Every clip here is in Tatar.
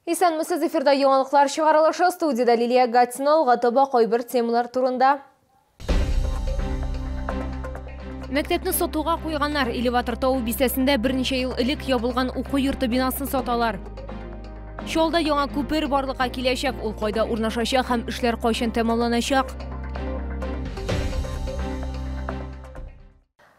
Исәнмесез, эфирда яңалыклар чыгарылышы, студиядә Лилия Гатина, алга таба кайбер темалар турында. Мәктәпне сатуга куйганнар. Элеватор тау бистәсендә берничә ел элек ябылган уку йорты бинасын саталар. Чалда яңа күпер барлыкка киләчәк. Ул кайда урнашачак һәм эшләр кайчан тәмамланачак?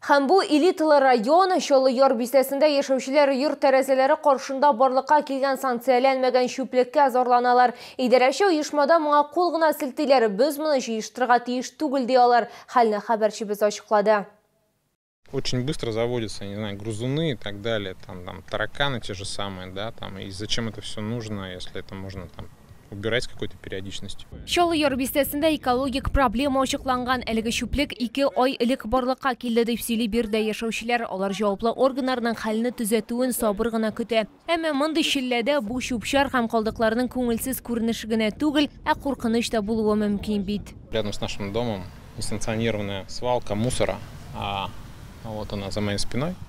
Һәм бу элиталы район, Чаллы Яр бистәсендә яшәүчеләр йорт тәрәзәләре каршында барлыкка килгән санкцияләнмәгән чүплеккә зарланалар. Идарәче оешмада моңа кул гына селтиләр, без моны җыештырырга тиеш түгел, ди алар, хәлне хәбәрчебез ачыклады. Очень быстро заводятся, я не знаю, грызуны и так далее, там, там тараканы те же самые, да, там, и зачем это всё нужно, если это можно там. убирать с какой-то периодичностью. Чаллы яр бистәсендә экологик проблема ачыкланган. Әлеге чүплек ике ай элек барлыкка килде, дип сөйли биредә яшәүчеләр. Алар җаваплы органнарның хәлне төзәтүен сабыр гына көтә. Әмма мондый челләдә бу чүп-чар һәм калдыкларның күңелсез күренеше генә түгел, ә куркыныч та булуы мөмкин бит. Рядом с нашим домом несанкционированная свалка мусора, а вот она за моей спиной.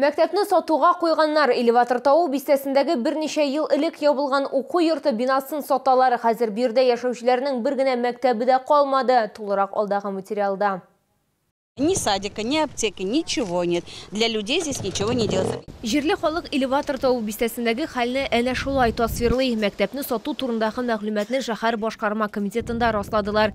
Мәктәпне сатуга куйганнар, Элеватор тавы бистәсендәге берничә ел элек ябылган уку йорты бинасын саталар, хәзер биредә яшәүчеләрнең бер генә мәктәбе дә калмады, тулырак алдагы материалда. Ни садика, ни аптеки, ничего нет, для людей здесь ничего не делается. Җирле халык Элеватор тавы бистәсендәге хәлне әнә шулай тасвирлый. Мәктәпне сату турындагы мәгълүматны шәһәр башкарма комитетында расладылар.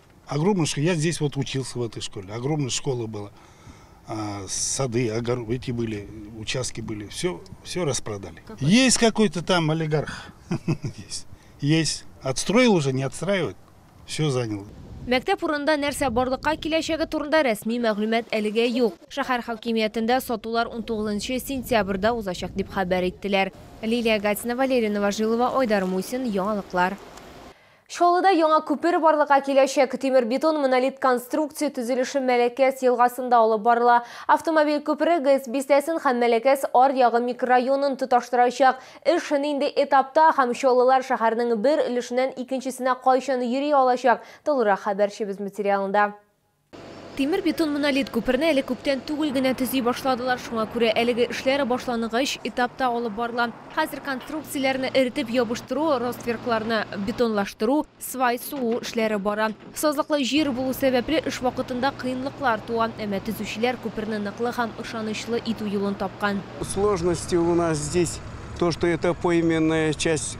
Огромный школ. Я здесь вот учился в этой школе. Огромная школа была. А, сады, огор... эти были, участки были. Все, все распродали. Какой? Есть какой-то там олигарх. Есть. Есть. Отстроил уже, не отстраивает. Все занял. Мәктәп урында нәрсә барлыкка киләчәге турында рәсми мәгълүмат әлегә юк. Шәһәр хакимиятендә сатулар 19 сентябрьдә узачак дип хәбәр иттеләр. Лилия Гатина, Валерий Новожилова, Айдар Мусин, Яңалыклар. Чаллыда яңа күпер барлыкка киләчәк. Тимер-бетон монолит конструкция төзелеше Мәләкәс елгасында алып барыла. Автомобиль күпере ГЭС бистәсен һәм Мәләкәс аръягы микрорайонын тоташтырачак. Эш нинди этапта һәм чаллылар шәһәрнең бер өлешеннән икенчесенә кайчан йөри алачак, тулырак хәбәрчебез материалында. Тимер-бетон-монолит күперне әле күптән түгел генә төзи башладылар, шуңа күрә әлеге эшләр башлангыч этапта алып барыла. Хәзер конструкцияләрне эретеп ябыштыру, ростверкларны бетонлаштыру, свай сугу эшләре бара. Сазлыклы җир булу сәбәпле, эш вакытында кыенлыклар туа, әмма төзүчеләр күперне ныклы һәм ышанычлы итү юлын тапкан. Сложности у нас здесь то, что это поименная часть.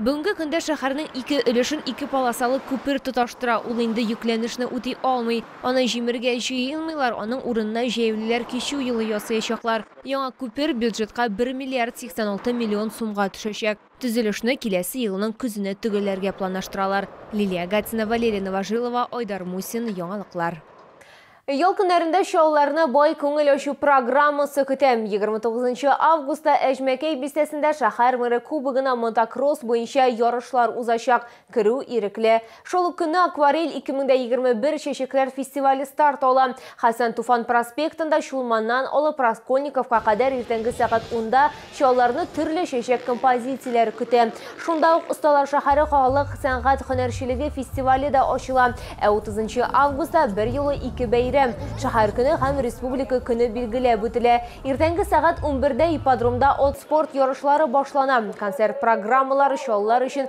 Бүгенге көндә шәһәрнең ике өлешен ике полосалы күпер тоташтыра, ул инде йөкләнешне үти алмый. Аны җимергә җыенмыйлар, аның урынына җәяүлеләр кичү юлы ясаячаклар. Яңа күпер бюджетка бер миллиард 86 миллион сумга төшәчәк. Төзелешне киләсе елның көзенә төгәлләргә планлаштыралар. Лилия Гатина, Валерия Новожилова, Айдар Мусин, яңалыклар. Ял көннәрендә чалларны бай күңел ачу программасы көтә. 29 августта Әҗмәкәй бистәсендә шәһәр мэры кубогына мотокросс буенча ярышлар узачак, керү ирекле. Шул ук көнне Акварель 2021 чәчәкләр фестивале старт ала. Хәсән Туфан проспектында Чулманнан алып Раскольниковка кадәр иртәнге сәгать унда Чалларны төрле чәчәк композицияләре көтә. Шунда ук Осталар шәһәре халык сәнгать һөнәрчелеге фестивале дә ачыла. Ә 30 августта берьюлы ике бәйрәм, Шәһәр көне һәм Республика көне билгеләп үтелә. Иртәнге сәгать унбердә ипподромда от-спорт ярышлары башлана. Концерт программалары чаллылар өчен